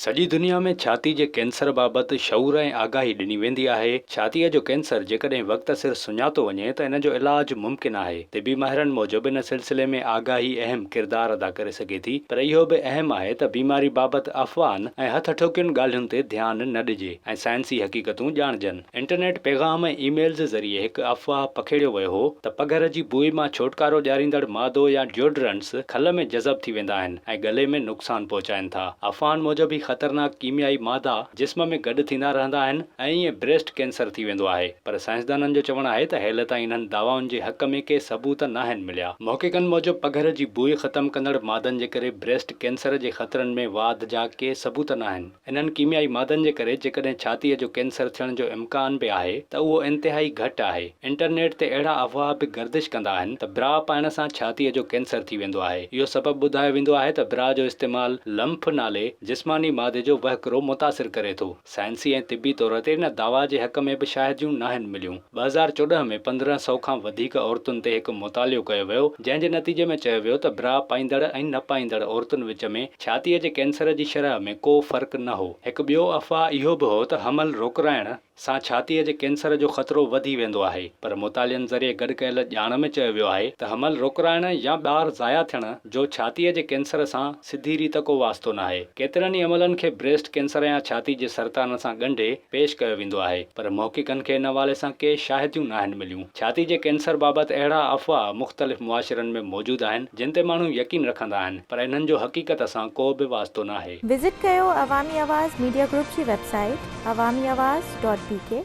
سڄي دنيا ۾ ڇاتي جي ڪينسر بابت شعور ۽ آگاهي ڏني ويندي آهي. ڇاتيء جو ڪينسر جيڪڏهن وقت سر سڃاتو وڃي ته ان جو علاج ممڪن آهي. طبي ماهرن موجب ان سلسلي ۾ آگاهي اهم ڪردار ادا ڪري سگهي ٿي پر اهو به اهم آهي ته بيماري بابت افواهن ۽ هٿ اٺوڪين ڳالهين تي ڌيان نه ڏجي ۽ سائنسي حقيقتون ڄاڻجن. انٽرنيٽ پيغام ۽ اي ميلز ذريعي هڪ افواهه پکيڙيو ويو هو ته پگهر جي بوء مان ڇوٽڪارو ڏياريندڙ مادو يا ڊيوڊرنٽس کل ۾ جذب ٿي ويندا آهن ۽ ڳلي ۾ نقصان پهچائين ٿا. افواهن موجب هي خطرناڪ ڪيميائي مادا جسم ۾ گڏ ٿيندا رهندا آهن ۽ ائين بريسٽ ڪينسر ٿي ويندو آهي پر سائنسدانن جو چوڻ آهي ته هيل تائين انهن دعوائن جي حق ۾ ڪي ثبوت ناهن مليا. محققن موجب پگهر جي بوء ختم ڪندڙ مادن جي ڪري بريسٽ ڪينسر جي خطرن ۾ واڌ جا ڪي ثبوت ناهن. انهن ڪيميائي مادن جي ڪري جيڪڏهن ڇاتيء جو ڪينسر ٿيڻ جو امڪان به آهي ته اهو انتهائي گهٽ آهي. انٽرنيٽ تي اهڙا افواهه به گردش ڪندا آهن ته برا پائڻ سان ڇاتيء جو ڪينسر ٿي ويندو آهي. اهو سبب ٻڌايو ويندو آهي ته برا جو استعمال لمف نالي جسماني مادي جو وهڪرو متاثر ڪري ٿو. سائنسي ۽ طبي طور تي ان دعويٰ جي حق ۾ به شاهديون ناهن مليون. ٻه هزار چوڏهن ۾ پندرهن سؤ کان وڌيڪ عورتن تي هڪ مطالعو ڪيو ويو، جنهن جي نتيجي ۾ چيو ويو ته برا پائيندڙ ۽ نه پائيندڙ عورتن وچ ۾ ڇاتيء جي ڪينسر جي شرح ۾ ڪو فرق نه هو. هڪ ٻيو افواهه اهو به هو ته حمل روڪرائڻ سان ڇاتيء جي ڪينسر جو خطرو وڌي ويندو آهي، پر مطالعن ذريعي گڏ ڪيل ڄاڻ ۾ چيو ويو آهي ته حمل روڪرائڻ يا ٻار ضايع ٿيڻ جو ڇاتيء جي ڪينسر سان سڌي ريت ڪو واسطو ناهي. ڪيترن ئي عملن کي بريسٽ ڪينسر يا ڇاتي جي سرطان سان ڳنڍي پيش ڪيو ويندو آهي، پر محققن کي ان حوالي سان ڪي شاهديون ناهن مليون. ڇاتي جي ڪينسر بابت اهڙا افواهه مختلف معاشرن ۾ موجود آهن، جن تي ماڻهو يقين رکندا آهن. پر انهن جو حقيقت سان ڪو به واسطو ناهي. وزٽ ڪيو عوامي آواز ميڊيا گروپ جي website Awami Awaz dot بي ڪي.